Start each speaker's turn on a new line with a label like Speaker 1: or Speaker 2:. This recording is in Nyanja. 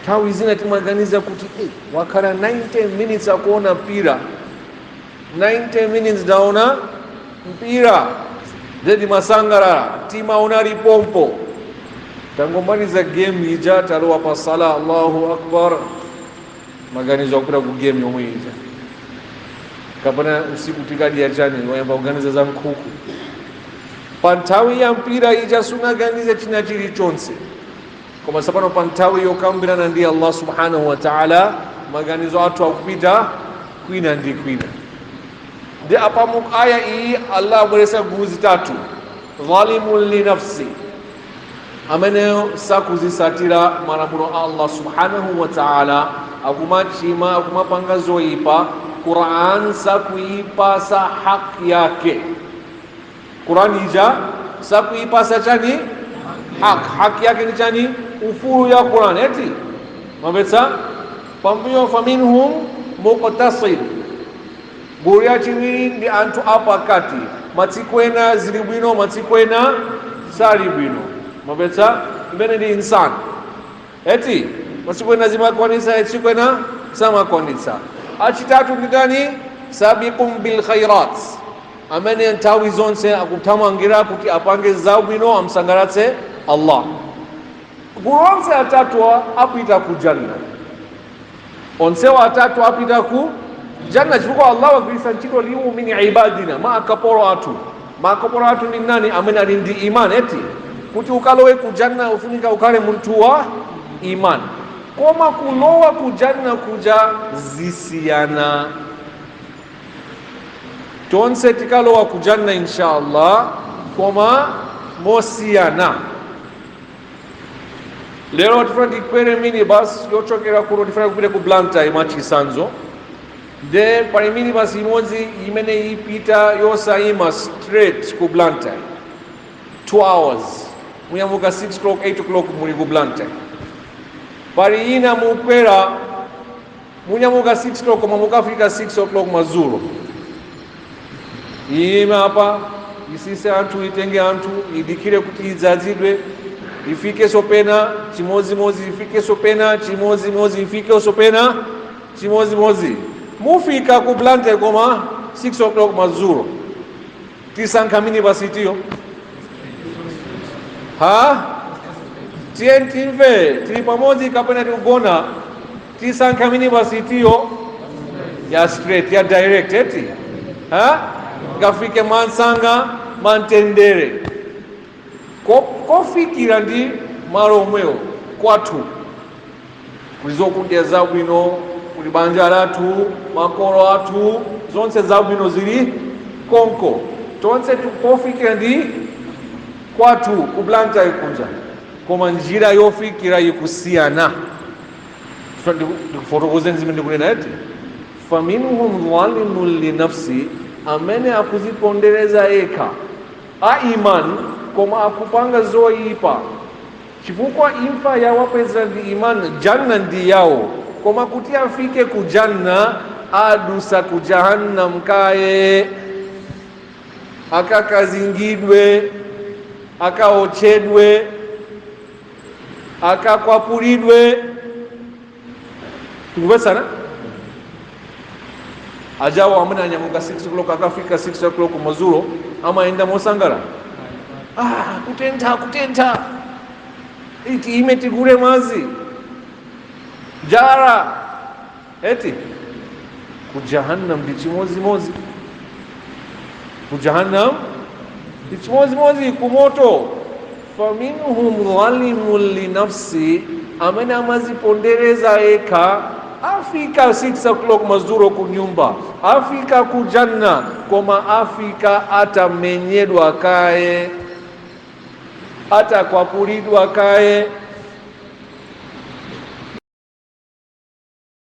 Speaker 1: nthawi zina timaganiza kuti "Eh, wakhala 90 minutes akuona mpira 90 minutes waona mpira zedi umasangalala mtima unali pompo tangomaliza game ija talowa pa sala allahu akbar maganizo akupita ku game yomwe ija kapena usiku tikadya chani wayamba kuganiza za nkhuku pa nthawi ya mpira ija sunaganize china chilichonse koma tsopano pa nthawi yokambirana ndi allah subhanahu wa taala maganizo athu akupita kwina ndi kwina ndi apa mu aya iyi allah abweretsa gulu zitatu zalimun li nafsi ameneyo sakuzisatira malamulo a allah subhanahu wa taala akumachima akumapanga zoyipa quran sakuipasa haki yake Quran ija sakuipasa chani haki haki yake ndi chani ufulu ya Quran eti mwamvetsa pambuyo faminhum muqtasid gulu ya chiwiri ndi anthu apakati matsiku ena zili bwino matsiku ena sali bwino mwamvetsa imene ndi insan eti masiku ena amakwanisa matsiku ena samakwanisa achitatu ndi ndani sabiqum bil khairat amene nthawi zonse akuthamangira kuti apange zabwino amsangalatse Allah gulu onse atatu apita ku janna onsewa atatu apita ku janna chifukwa Allah wagwiritsa ntchito liwu min ibadina ma akapolo athu ma akapolo athu ndi ndani amene ali ndi iman eti kuti ukalowe ku janna ufunika ukhale munthu wa iman koma kulowa ku janna kuja zisiyana tonse tikalowa ku janna inshallah koma mosiyana lero tifuna tikwere minibus yochokera kuno tifuna kupita ku blantyre mwachisanzo nde pali minibus imodzi imene ipita yosayima straight ku blantyre 2 hours munyamuka 6 o'clock 8 o'clock muli ku blantyre pali ina mukwera Munyamuka 6 o'clock koma mukafika 6 o'clock madzulo iyime apa isise anthu itenge anthu idikire kuti idzadzidwe ifikeso pena chimodzimodzi ifikeso pena chimodzimodzi ifikeso pena chimodzimodzi mufika ku blantyre koma 6 o'clock madzulo tisankha minibus itiyo ha tiyeni timve tili pamodzi kapena tikugona tisankha minibus itiyo ya straight ya direct eti ha ikafike mwansanga mwantendere kofikira ndi malo omwewo kwathu kuli zokudya zabwino kuli banja lathu makolo athu zonse zabwino zili konko tonse tikufikira ndi kwathu ku blantyre kunja koma njira yofikira ikusiyana Chifukwa ndikufotokozeni zimene ndikunena eti faminhum zalimun linafsi amene akuzipondereza yekha a imani koma akupanga zoyipa chifukwa imfa yawapeza ndi imani janna ndi yawo koma kuti afike ku janna adusa ku jahannam kaye akakazingidwe akaotchedwe akakwapulidwe tikupezana ajawo amene anyamuka 6 o'clock akafika 6 o'clock mazulo amayenda mosangala ah, kutentha kutentha iti iime tigule madzi njala eti ku jahannam ndi chimodzimodzi ku jahannam ndi chimodzimodzi ku moto faminhum zalimun linafsi amene amazipondereza yekha afika 6 o'clock mazuro ku nyumba afika ku janna koma afika atamenyedwa kaye atakwapulidwa kaye